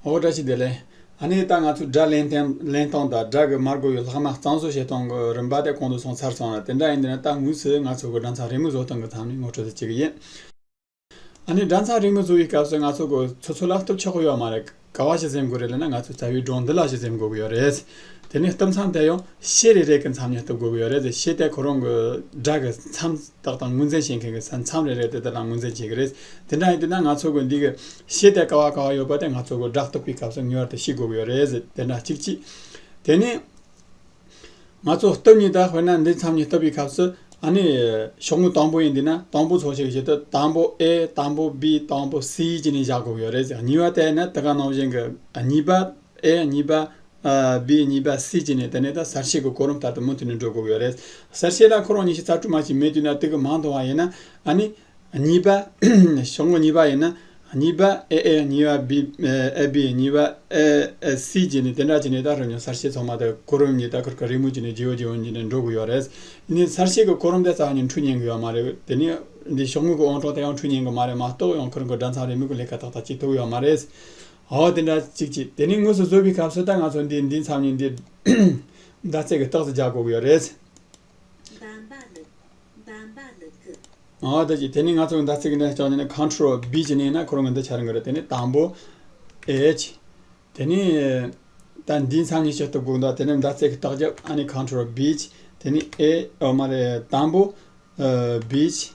ཨོ་བཀྲ་ཤིས་བདེ་ལེགས། ཨ་ནེ་ད་ང་ཚོའི་སྒྲ་གླེང་སྟེང་གླེང་སྟངས་དང་སྒྲ་གི་མར་གོ་ཡོད་ལྷག་ན་གཙང་བཟོ་བྱེད་སྟངས་གི་རིམ་པ་དེ་གོང་དུ་སོང་ཚར་སོང་ར་དེ་འདྲ་ཡིན་དུས་ན་ད་དངོས་སུ་ང་ཚོ་གི་སྒྲ་མཚམས་རིང་མོ་བཟོ་སྟངས་གི་མཚམས་ནི་ངོ་སྤྲོད་དུ་བྱེད་ཀྱི་ཡིན། ཨ་ནེ་སྒྲ་མཚམས་རིང་མོ་བཟོ་བའི་སྐབས་སུ་ང་ཚོ་གི་ཚོ་ཚོ་ལ་སྟོབས་ཆག་གོ་ཡོད་མ་རེད་ག་བ་ཞིག་སེམས་དགོས་རེད་ལེ་ན་ང་ཚོའི་རྩ་བའི་སྒྲོག་འདི་ལ་ཞིག་སེམས་དགོས་ཀྱི་ཡོད་རེད། དེ་ནས་སྟོབས་མཚམས་དེ་ཡང་ཤེས་རེ་རེ་གི་མཚམས་ནས་སྟོབས་དགོས་ཀྱི་ཡོད་རེད་ཤེས་དེ་ཁོ་རང་གི་སྒྲ་གི་མཚམས། བདག་དང་དངུལ་འཛིན་བྱེད་མཁན་གྱི་ས་མཚམས་རེ་རེ་དེ་དག་ལ་དངུལ་འཛིན་བྱེད་ཀྱི་རེད། དེ་འདྲ་ཡིན་དུས་ན་ང་ཚོ་གོ་འདི་གི། ཤེས་ལྡན་ཀ་བ་གང་བ་ཡོད་པ་དེ་ང་ཚོ་གོ་བསྒྲགས་གཏོགས་པའི་སྐབས་སུ་ངེས་བར་དུ་ཤེས་དགོས་ཀྱི་ཡོད་རེད། དེ་འདྲ་གཅིག་གཅིག། དེ་ནས། ང་ཚོ་སྟོབས་གཉིས་དང་དཔེར་ན་འདི་མཚམས་གཉིས་བཏབ་པའི་སྐབས་སུ། ཨ་ནི། ཤོག་ངོས་དང་པོ་ཡིན་དུས་ན་དང་པོ་ཚོགས་ཤིག་བྱེད་དུས་དང་པོ A དང་པོ B དང་པོ C ཅེས་ནས་བཞག་དགོས་ཀྱི་ཡོད་རེད། གཉིས་པ་དེ་ནི་དེ་ག་ནང་བཞིན་གྱི་གཉིས་པ། ཨེ་ཡ་གཉིས་པ། བི་ཡ་གཉིས་པ་སི་ཅི་ནས་ད་ནས་ད་གསར་བཤད་ཀྱི་གོ་རིམ་ལྟར་དུ་མུ་མཐུད་ནས་འགྲོ་དགོས་ཀྱི་ཡོད་རེད། གསར་བཤད་ལ་ཁོ་རང་གཉིས་ཤིག་ཚར་དྲུག་མ་ཞིག་མེད་དུས་ན་དུས་ཀྱི་མང་དུ་བ་ཡིན་ན། ཨ་ནི། གཉིས་པ། ཞོགས་ངོ་གཉིས་པ་ཡིན་ན། གཉིས་པ། ཨེ་ཨེ་ཡ་གཉིས་པ་བི། ཨེ་བི་ཡ་གཉིས་པ། ཨེ་ཨེ་སི་ཅི་ནས་དེ་འདྲ་བྱས་ནས་ད་རོ་ཉོན་གསར་བཤད་ཚང་མ་དེ་གོ་རིམ་གཉིས་ད་ཁུར་ཁ་རིང་མོ་བྱས་ནས་ཇེའུ་ཇེའུ་གཉིས་ནས་འགྲོ་དགོས་ཡོད་རེད། ཨེ་ནི་གསར་བཤད་ཀྱི་གོ་རིམ་དེ་རྩ་བ་ཉིན་འཁྲུག་ཉན་གྱི་ཡོད་མ་རེད། དེ་ནས། འདི་ཞོགས་ངོ་གི་དབང་གྲོགས་དེ་ཡང་འཁྲུག་ཉན་གྱི་མ་རེད་མ་གཏོགས་ཡང་ཁུར་མགོ་སྦྲ་མཚམས་རེ་མི་དགོས་ལས་ཀ་ཏག་ཏག་ཅིག་ཐུག་ཡོད་མ་རེད། ཨོ་དེ་འདྲ་ཅིག་ཅིག་དེ་ནི་དངོས་སུ་བཟོ་བའི་སྐབས་སུ་ད་ང་ཚོ་འདི་འདི་མཚམས་ནས་འདི། ཟླ་ཚེས་ཀྱི་རྟགས་སུ་རྒྱག་དགོས་ཀྱི་ཡོད་རེད། འབའ་འབའ་ལུག། འབའ་འབའ་ལུག་གི། ཨོ་དེ་ཅིག་དེ་ནི་ང་ཚོ་གི་ཟླ་ཚེས་ཀྱི་འདྲ་ཅོག་ནི་ནི Control B ཅིག་ནས་ན་ཁོ་རང་གི་འདི་འཆར་དགོས་རེད་དེ་ནི་དང་པོ། H། དེ་ནི། ད་འདིའི་མཚམས་ནས་བྱེད་ཐུབ་དགོས་འདུག་དེ་ནི་ཟླ་ཚེས་ཀྱི་རྟགས་རྒྱབ་ཨ་ནི Control B ཅིག་དེ་ནི A ཨོ་མ་རེད་དང་པོ། B ཅིག།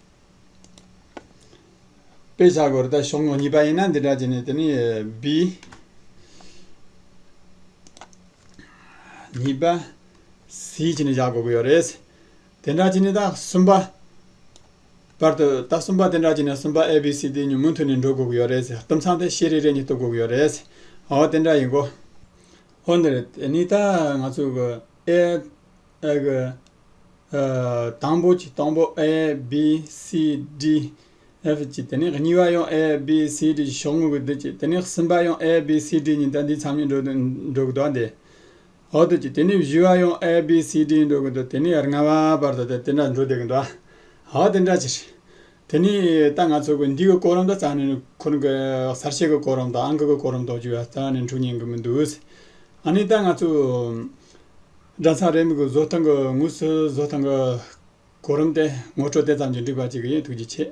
དཔེ་བྱ་དགོས་རེད་གཞུང་གཉིས་པ་ཡིན་ན་འདི་འདྲ་བྱས་ནས་དེ་ནས་བི། གཉིས་པ། སི་བྱས་ནས་བཞག་དགོས་ཀྱི་ཡོད་རེད། དེ་འདྲ་བྱས་ནས་ད་གསུམ་པ། བར་དུ་ད་གསུམ་པ་དེ་འདྲ་བྱས་ནས་གསུམ་པ་ཨེ་བི་སི་དེ་ཉུང་མུ་མཐུད་ནས་འགྲོ་དགོས་ཀྱི་ཡོད་རེད། དུམ་ཚང་དེ་ཤེས་རེ་རེ་གཉིས་གཏུག་དགོས་ཀྱི་ཡོད་རེད། འོ་དེ་འདྲ་ཡིན་གོ། འོ་འདི་རེད་དེ་ནས་ད་ང་ཚོས་ཨེ། ཨེ་གི། དང་པོ་གྱི་སྟོང་པོ A B C D F གྱི་དེ་ནས་གཉིས་པ་ཡང A B C D གྱི་ཕྱོགས་ངོས་ཀྱི་དུས་ཀྱི་དེ་ནས་གསུམ་པ་ཡང A B C D གཉིས་ལྟ་འདིའི་མཚམས་གཉིས་འགྲོ་གི་དོགས་འདི་འོག་དུས་ཀྱི་དེ་ནས་བཞི་བ་ཡང A B C D འགྲོ་གི་དོགས་དེ་ནས་ལྔ་བ་བར་དུ་དེ་འདྲ་འགྲོ་དགོས་གི་འདུག་ཨ་དེ་འདྲ་ཅི་རེད། དེ་ནས་ད་ང་ཚོ་གི་འདི་གི་གོ་རིམ་ད་ཙམ་ནས་ཁོང་གི་གསར་བཤད་ཀྱི་གོ་རིམ་དང་ཨང་ཀི་ཀྱི་གོ་རིམ་དོགས་རྒྱུ་ཡ་རྩ་ནས་འཁྲུག་ཉན་གི་མི་འདུག་ཨ་ནི་ད་ང་ཚོ། སྒྲ་ཚང་རེ་མིག་གི་བཟོ་སྟངས་ཀྱི་ངོས་སུ་བཟོ་སྟངས་ཀྱི་གོ་རིམ་སྟེ་ངོ་སྤྲོད་དེ་ཙམ་གྱིས་འགྲིག་པ་ཅིག་ཡིན་ཐུགས་རྗེ་ཆེ།